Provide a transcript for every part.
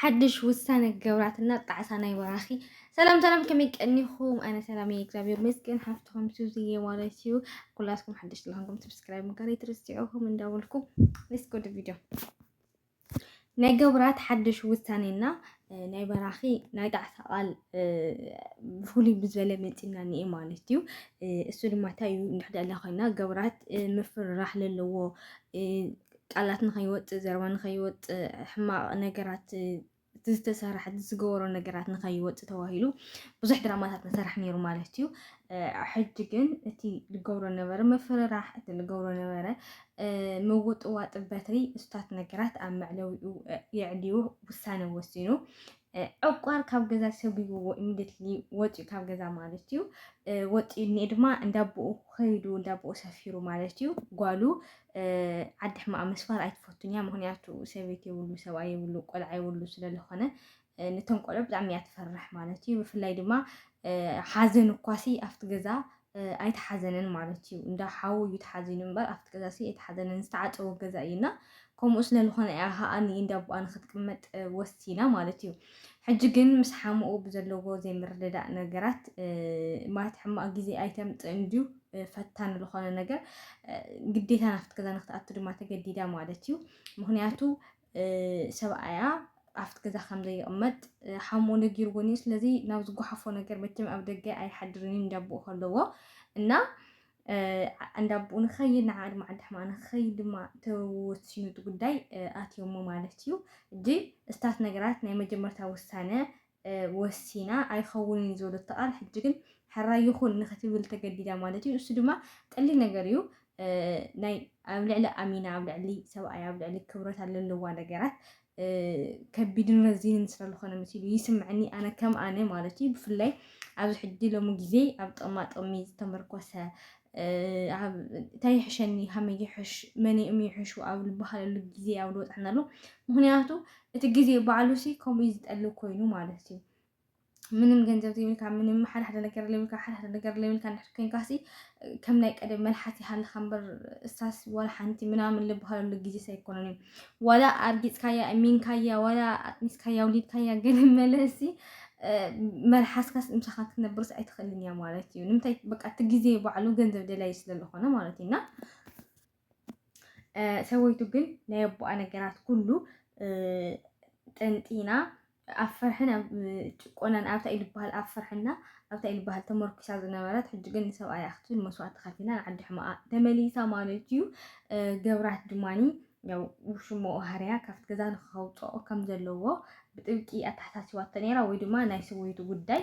ሓድሽ ውሳነ ገብራትና ጣዕሳ ናይ በራኺ ሰላም ሰላም ከመይ ቀኒኹም ኣነ ሰላም እየ እግዚኣብሔር መስገን ሓፍትኹም ሱዝየ ማለት እዩ ኩላትኩም ሓድሽ ስለኾንኩም ሰብስክራይብ ምግባር ኣይትርስዑኹም እንዳበልኩ ሌትስ ጎ ቪድዮ ናይ ገብራት ሓድሽ ውሳኔና ናይ በራኺ ናይ ጣዕሳ ቃል ብፍሉይ ብዝበለ መፂና እኒአ ማለት እዩ እሱ ድማ እንታይ እዩ እንድሕደለ ኮይና ገብራት ምፍርራሕ ዘለዎ ቃላት ንኸይወፅእ ዘረባ ንኸይወፅእ ሕማቕ ነገራት እቲ ዝተሰርሐ እቲ ዝገበሮ ነገራት ንኸይወፅእ ተባሂሉ ብዙሕ ድራማታት ንሰራሕ ነይሩ ማለት እዩ ሕጂ ግን እቲ ዝገብሮ ነበረ ምፍርራሕ እቲ ዝገብሮ ነበረ ምውጥዋጥ በትሪ እስታት ነገራት ኣብ መዕለዊኡ የዕልዩ ውሳነ ወሲኑ ዕቋር ካብ ገዛ ሰጒጉዎ ኢሚደትሊ ወፂኡ ካብ ገዛ ማለት እዩ ወፂኡ እኒኤ ድማ እንዳቦኡ ከይዱ እንዳቦኡ ሰፊሩ ማለት እዩ ጓሉ ዓዲ ሕማቅ መስፋር ኣይትፈቱን እያ ምክንያቱ ሰበይቲ የብሉ ሰብኣይ የብሉ ቆልዓ የብሉ ስለዝኾነ ነቶም ቆልዑ ብጣዕሚ እያ ትፈርሕ ማለት እዩ ብፍላይ ድማ ሓዘን እኳሲ ኣብቲ ገዛ ኣይተሓዘነን ማለት እዩ እንዳ ሓዉ እዩ ተሓዚኑ እምበር ኣብቲ ገዛሲ ኣይተሓዘነን ዝተዓፀወ ገዛ እዩ እና ከምኡ ስለዝኾነ እያ ከዓ ንኢንዳ ኣቦኣ ንክትቅመጥ ወሲና ማለት እዩ ሕጂ ግን ምስ ሓሙኡ ብዘለዎ ዘይምርድዳእ ነገራት ማለት ሕማቅ ግዜ ኣይተምፅእ እንድዩ ፈታኒ ዝኾነ ነገር ግዴታ ናብቲ ገዛ ንክትኣቱ ድማ ተገዲዳ ማለት እዩ ምክንያቱ ሰብኣያ ኣብቲ ገዛ ከም ዘይቕመጥ ሓሙ ነጊርዎን እዩ ስለዚ ናብ ዝጓሓፎ ነገር መቸም ኣብ ደገ ኣይሓድርን እዩ እንዳቦኡ ከለዎ እና እንዳቦኡ ንኸይድ ንዓ ድማ ዓዲ ሕማ ንኸይድ ድማ ተወሲኑ እቲ ጉዳይ ኣትዮሞ ማለት እዩ እጂ እስታት ነገራት ናይ መጀመርታ ውሳነ ወሲና ኣይኸውንን እዩ ዝበለቶ ቃል ሕጂ ግን ሕራይ ይኹን ንክትብል ተገዲዳ ማለት እዩ። እሱ ድማ ቀሊል ነገር እዩ ናይ ኣብ ልዕሊ ኣሚና ኣብ ልዕሊ ሰብኣይ ኣብ ልዕሊ ክብረታ ለለዋ ነገራት ከቢድን ረዚንን ስለ ዝኾነ መሲሉ ይስምዐኒ ኣነ ከም ኣነ ማለት እዩ ብፍላይ ኣብዚ ሕጂ ሎሚ ግዜ ኣብ ጥቕማ ጥቕሚ ዝተመርኮሰ እንታይ ይሕሸኒ ሃመይ ይሕሽ መን እም ይሕሹ ኣብ ዝበሃለሉ ግዜ ኣብ ዝወፅሐና ኣሎ ምክንያቱ እቲ ግዜ ባዕሉ ሲ ከምኡ ዝጠልብ ኮይኑ ማለት እዩ ምንም ገንዘብ ዘይብልካ ምንም ሓደ ሓደ ነገር ዘይብልካ ሓደ ሓደ ነገር ዘይብልካ እንድሕር ኮይንካ ሲ ከም ናይ ቀደም መልሓስ ይሃልኻ እምበር እሳስ ዋላ ሓንቲ ምናምን ዝበሃለሉ ግዜስ ኣይኮነን እዩ ዋላ ኣርጊጽካያ እሚንካያ ዋላ ኣጥኒስካያ ውሊድካያ ግን መለሲ መልሓስካስ ምሳኻ ክትነብርስ ኣይትኽእልን እያ ማለት እዩ ንምንታይ በቃ እቲ ግዜ ባዕሉ ገንዘብ ደላይ ስለ ዝኾነ ማለት እዩና ሰበይቱ ግን ናይ ኣቦኣ ነገራት ኩሉ ጠንጢና ኣብ ፍርሕን ኣብ ጭቆናን ኣብታ እዩ ልበሃል ኣብ ፍርሕና ኣብታ እዩ ልበሃል ተመርኲሳ ዝነበረት ሕጂ ግን ንሰብኣያ ክትብል መስዋእቲ ከፊላ ንዓዲ ሕማኣ ተመሊሳ ማለት እዩ ገብራት ድማኒ ያው ውሽሞ ሃርያ ካብቲ ገዛ ንክኸውፅኦ ከም ዘለዎ ብጥብቂ ኣተሓሳሲባቶ ነይራ ወይ ድማ ናይ ሰበይቱ ጉዳይ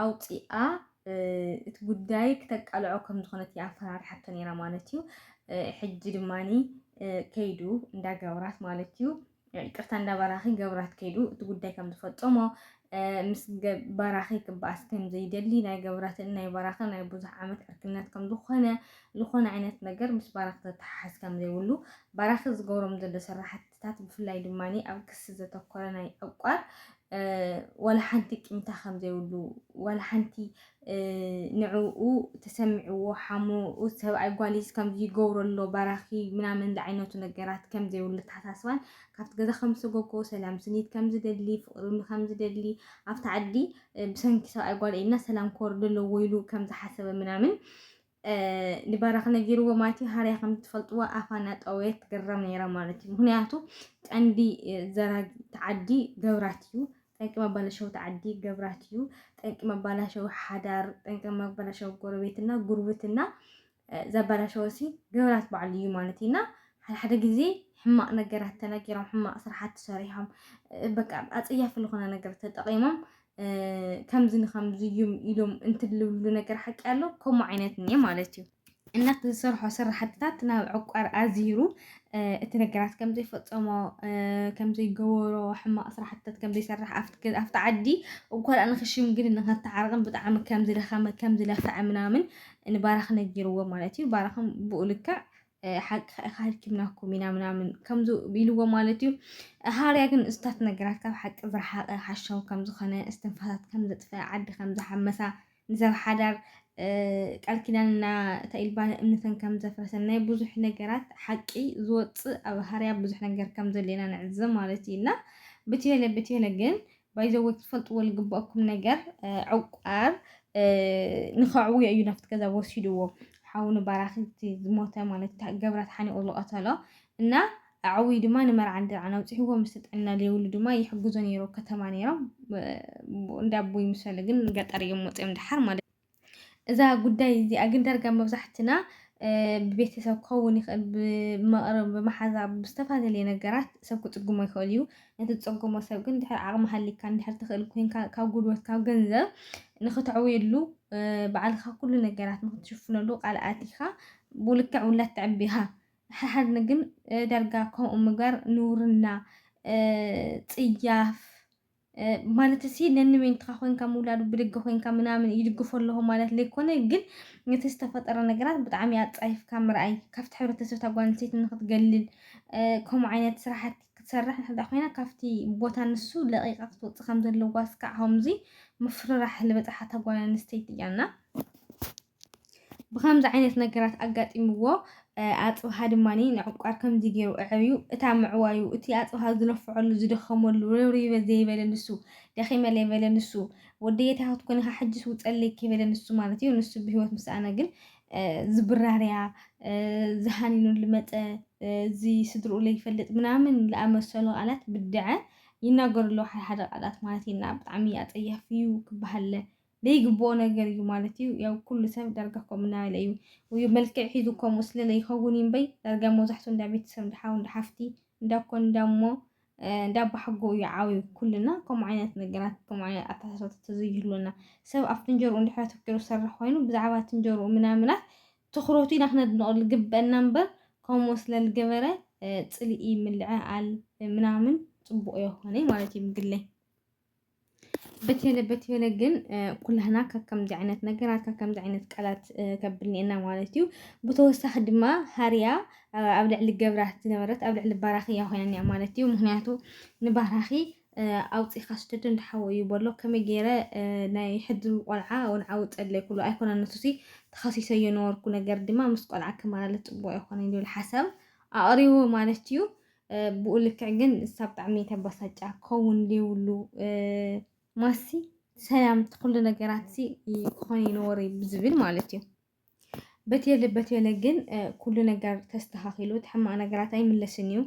ኣውፂኣ እቲ ጉዳይ ክተቃልዖ ከም ዝኾነት እያ ኣፈራርሓቶ ነይራ ማለት እዩ ሕጂ ድማኒ ከይዱ እንዳገብራት ማለት እዩ ይቅርታ እንዳ ባራኺ ገብራት ከይዱ እቲ ጉዳይ ከም ዝፈጸሞ ምስ ባራኺ ክበኣስ ከም ዘይደሊ ናይ ገብራትን ናይ ባራኺ ናይ ብዙሕ ዓመት ዕርክነት ከም ዝኾነ ዝኾነ ዓይነት ነገር ምስ ባራኺ ተተሓሓዝ ከም ዘይብሉ ባራኺ ዝገብሮም ዘሎ ስራሕትታት ብፍላይ ድማ ኣብ ክሲ ዘተኮረ ናይ ዕቋር ዋላ ሓንቲ ቂምታ ከም ዘይብሉ ዋላ ሓንቲ ንዕኡ ተሰሚዕዎ ሓሙ ኡስ ሰብኣይ ጓሊስ ከምዚ ይገብሮ ኣሎ ባራኪ ምናምን ዝዓይነቱ ነገራት ከም ዘይብሉ ተሓሳስባን ካብቲ ገዛ ከም ዝሰጎጎ ሰላም ስኒት ከም ዝደሊ ፍቅሪ ከም ዝደሊ ኣብቲ ዓዲ ብሰንኪ ሰብኣይ ጓል ኢልና ሰላም ክወርድ ኣለዎ ኢሉ ከም ዝሓሰበ ምናምን ንባራኽ ነጊርዎ ማለት እዩ። ሃርያ ከም ትፈልጥዎ ኣፋ እናጠወየ ትግረም ነይራ ማለት እዩ። ምክንያቱ ቀንዲ ዘራጊ ተዓዲ ገብራት እዩ። ጠንቂ መባለሸዊ ተዓዲ ገብራት እዩ። ጠንቂ መባላሸዊ ሓዳር፣ ጠንቂ መባላሸዊ ጎረቤትና ጉርብትና ዘባላሸወ ሲ ገብራት በዓሉ እዩ ማለት እዩ እና ሓደሓደ ግዜ ሕማቕ ነገራት ተነጊሮም ሕማቕ ስራሓት ተሰሪሖም በቃ ኣፀያፊ ዝኾነ ነገር ተጠቒሞም ከምዚ ንከምዚ እዩም ኢሎም እንትልብሉ ነገር ሓቂ ኣሎ ከምኡ ዓይነት እኒአ ማለት እዩ እናት ዝሰርሖ ስራሕትታት ናብ ዕቋር ኣዝሂሩ እቲ ነገራት ከም ዘይፈፀሞ ከም ዘይገበሮ ሕማቕ ስራሕትታት ከም ዘይሰርሕ ኣብቲ ዓዲ እኳ ደኣ ንክሽምግልን ንከተዓርቕን ብጣዕሚ ከም ዝደኸመ ከም ዝለፍዐ ምናምን ንባራኽ ነጊርዎ ማለት እዩ ባራኽን ብኡ ልክዕ ሓቂ ኢካ ሃልኪምናኩም ኢና ምናምን ከምዚ ኢልዎ ማለት እዩ ሃርያ ግን እስታት ነገራት ካብ ሓቂ ዝረሓቀ ሓሻው ከም ዝኮነ እስትንፋሳት ከም ዘጥፈ ዓዲ ከም ዝሓመሳ ንሰብ ሓዳር ቃል ኪዳንና ተኢልባን እምነተን ከም ዘፍረሰ ናይ ብዙሕ ነገራት ሓቂ ዝወፅእ ኣብ ሃርያ ብዙሕ ነገር ከም ዘሎና ንዕዘብ ማለት እዩ እና ብትበለ ብትበለ ግን ባይዘወይ ክትፈልጥዎ ዝግበኣኩም ነገር ዕቋር ንኸዕውዮ እዩ ናብቲ ገዛ ወሲድዎ ሓው ንባራክቲ ዝሞተ ማለት ገብራት ሓኒቑ ዝቐተሎ እና ኣዕውይ ድማ ንመርዓ ንድርዓን ኣውፅሕዎ ምስ ጥዕና ዘይብሉ ድማ ይሕግዞ ነይሮ ከተማ ነይሮም እንዳ ኣቦይ ምሰለ ግን ገጠር እዮም ወፂኦም ድሓር ማለት እዛ ጉዳይ እዚኣ ግን ዳርጋ መብዛሕትና ብቤተሰብ ክኸውን ይኽእል፣ ብመቕርብ፣ ብመሓዛ፣ ብዝተፈላለየ ነገራት ሰብ ክጽግሞ ይኽእል እዩ። ነቲ ዝጸገሞ ሰብ ግን ድሕሪ ዓቕሚ ሃሊካ እንድሕር ትኽእል ኮይንካ ካብ ጉልበት ካብ ገንዘብ ንኽተዕውየሉ ባዕልኻ ኩሉ ነገራት ንኽትሽፍነሉ ቃል ኣቲኻ ብልክዕ ውላድ ተዕቢ ኢኻ። ሓሓድኒ ግን ዳርጋ ከምኡ ምግባር ንውርና ጽያፍ ማለት እሲ ነንመንትኻ ኮንካ ምውላዱ ብድገ ኮንካ ምናምን ይድግፎ ኣለኹ ማለት ዘይኮነ ግን ነቲ ዝተፈጠረ ነገራት ብጣዕሚ ኣጻይፍካ ምርኣይ ካብቲ ሕብረተሰብ እታ ጓል ኣንስተይቲ ንክትገልል ከምኡ ዓይነት ስራሕቲ ክትሰርሕ እንተ ኮይና ካብቲ ቦታ ንሱ ለቂቃ ክትወፅእ ከም ዘለዋ እስካዕ ከምዚ ምፍርራሕ ዝበፅሓታ ጓል ኣንስተይቲ እያ እና ብኸምዚ ዓይነት ነገራት ኣጋጢምዎ ኣጽብሃ ድማ ንዕቋር ከምዚ ገይሩ ኣዕብዩ እታ ምዕዋዩ እቲ ኣጽብሃ ዝለፍዐሉ ዝደኸመሉ ርብሪበ ዘይበለ ንሱ ደኺመ ዘይበለ ንሱ ወደየ እንታይ ክትኮን ኢኻ ሕጅስ ውፀለይ ከይበለ ንሱ ማለት እዩ ንሱ ብሂወት ምስኣነ ግን ዝብራርያ ዝሃንኑ ልመፀ እዚ ስድርኡ ለይፈልጥ ምናምን ዝኣመሰሉ ቃላት ብድዐ ይናገሩ ኣለዉ ሓደ ሓደ ቃላት ማለት እዩ እና ብጣዕሚ ኣጸያፊ እዩ ክበሃል ለይግብኦ ነገር እዩ ማለት እዩ ያው ኩሉ ሰብ ዳርጋ ከምኡ ናበለ እዩ ውዩ መልክዕ ሒዙ ከምኡ ስለ ለይኸውን እዩ እምበይ ዳርጋ መብዛሕትኡ እንዳ ቤተሰብ እንዳ ሓው እንዳ ሓፍቲ እንዳ ኮን እንዳ እሞ እንዳ ኣባሓጎ እዩ ዓብዩ ኩልና ከምኡ ዓይነት ነገራት ከምኡ ዓይነት ኣተሓሳሰባ ተዘይህሉና ሰብ ኣብ ፍንጀርኡ እንድሕር ኣተኪሩ ዝሰርሕ ኮይኑ ብዛዕባ ትንጀርኡ ምናምናት ትኹረቱ ኢና ክነድንቐሉ ዝግበአና እምበር ከምኡ ስለ ዝገበረ ፅልኢ ምልዕዓል ምናምን ፅቡቕ የኾነይ ማለት እዩ ምግለይ በቴለ በቴለ ግን ኩላህና ካብ ከምዚ ዓይነት ነገራት ካብ ከምዚ ዓይነት ቃላት ከብልና ኢና ማለት እዩ ብተወሳኺ ድማ ሃርያ ኣብ ልዕሊ ገብራ ዝነበረት ኣብ ልዕሊ ባራኺ እያ ኮይና እኒኣ ማለት እዩ ምክንያቱ ንባራኺ ኣውፂእካ ስደዶ እንዳሓወ እዩ በሎ ከመይ ገይረ ናይ ሕድሪ ቆልዓ ወልዓ ውፀለይ ኩሉ ኣይኮነ ንሱሲ ተኸሲሰዮ ነበርኩ ነገር ድማ ምስ ቆልዓ ክመላለስ ፅቡቅ ኣይኮነን ዝብል ሓሳብ ኣቕሪቡ ማለት እዩ ብኡ ልክዕ ግን እሳ ብጣዕሚ ተበሳጫ ክኸውን ዘይብሉ ማሲ ሰላም ኩሉ ነገራት ክኾን ይነበረ ብዝብል ማለት እዩ በትየለ በትየለ ግን ኩሉ ነገር ተስተኻኺሉ እቲ ሕማቕ ነገራት ኣይምለስን እዩ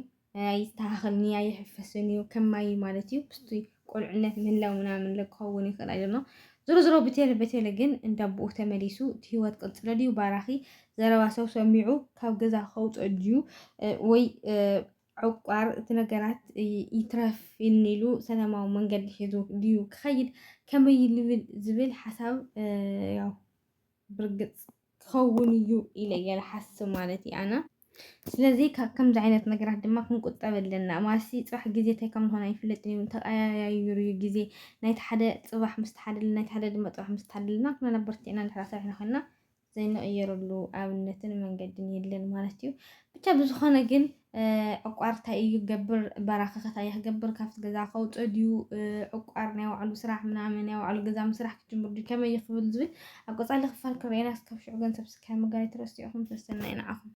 ኣይስተኻኸልን እዩ ኣይሕፈስን እዩ ከማይ ማለት እዩ ቁልዕነት ምህላው ምናምን ለ ክኸውን ይኽእል ኣይደኖ ዝሮ ዝሮ ብቴለ በቴለ ግን እንዳቦኡ ተመሊሱ እቲ ህይወት ቅልፅለ ድዩ ባራኺ ዘረባ ሰው ሰሚዑ ካብ ገዛ ከውፅኦ ድዩ ወይ ዕቋር እቲ ነገራት ይትረፍ ኢሉ ሰላማዊ መንገዲ ሒዙ ድዩ ክኸይድ ከመይ ልብል ዝብል ሓሳብ ያው ብርግጽ ክኸውን እዩ ኢለ እየ ዝሓስብ ማለት እዩ ኣነ። ስለዚ ካብ ከምዚ ዓይነት ነገራት ድማ ክንቁጠብ ኣለና። ማሲ ጽባሕ ግዜ እንታይ ከም ዝኾነ ኣይፍለጥን እዩ፣ ተቐያያይሩ እዩ ግዜ። ናይቲ ሓደ ጽባሕ ምስ ተሓደልና፣ ናይቲ ሓደ ድማ ጽባሕ ምስ ተሓደልና፣ ኩልና በርቲዕና እንድሕር ሰሪሕና ኮይንና ዘይንቕየረሉ ኣብነትን መንገድን የለን ማለት እዩ። ብቻ ብዝኾነ ግን ዕቋር ታይ እዩ ክገብር በራኺ ከ ታይ ክገብር ካብቲ ገዛ ከውፅእ ድዩ ዕቋር ናይ ባዕሉ ስራሕ ምናምን ናይ ባዕሉ ገዛ ምስራሕ ክጅምር ድዩ ከመይ እዩ ክብል ዝብል ኣብ ቀፃሊ ክፋል ክርኤና እስካብ ሽዑ ግን ሰብስክራይብ ምግባር ኣይትረስዑ ኢኹም ሰሰናዩ ንዓኹም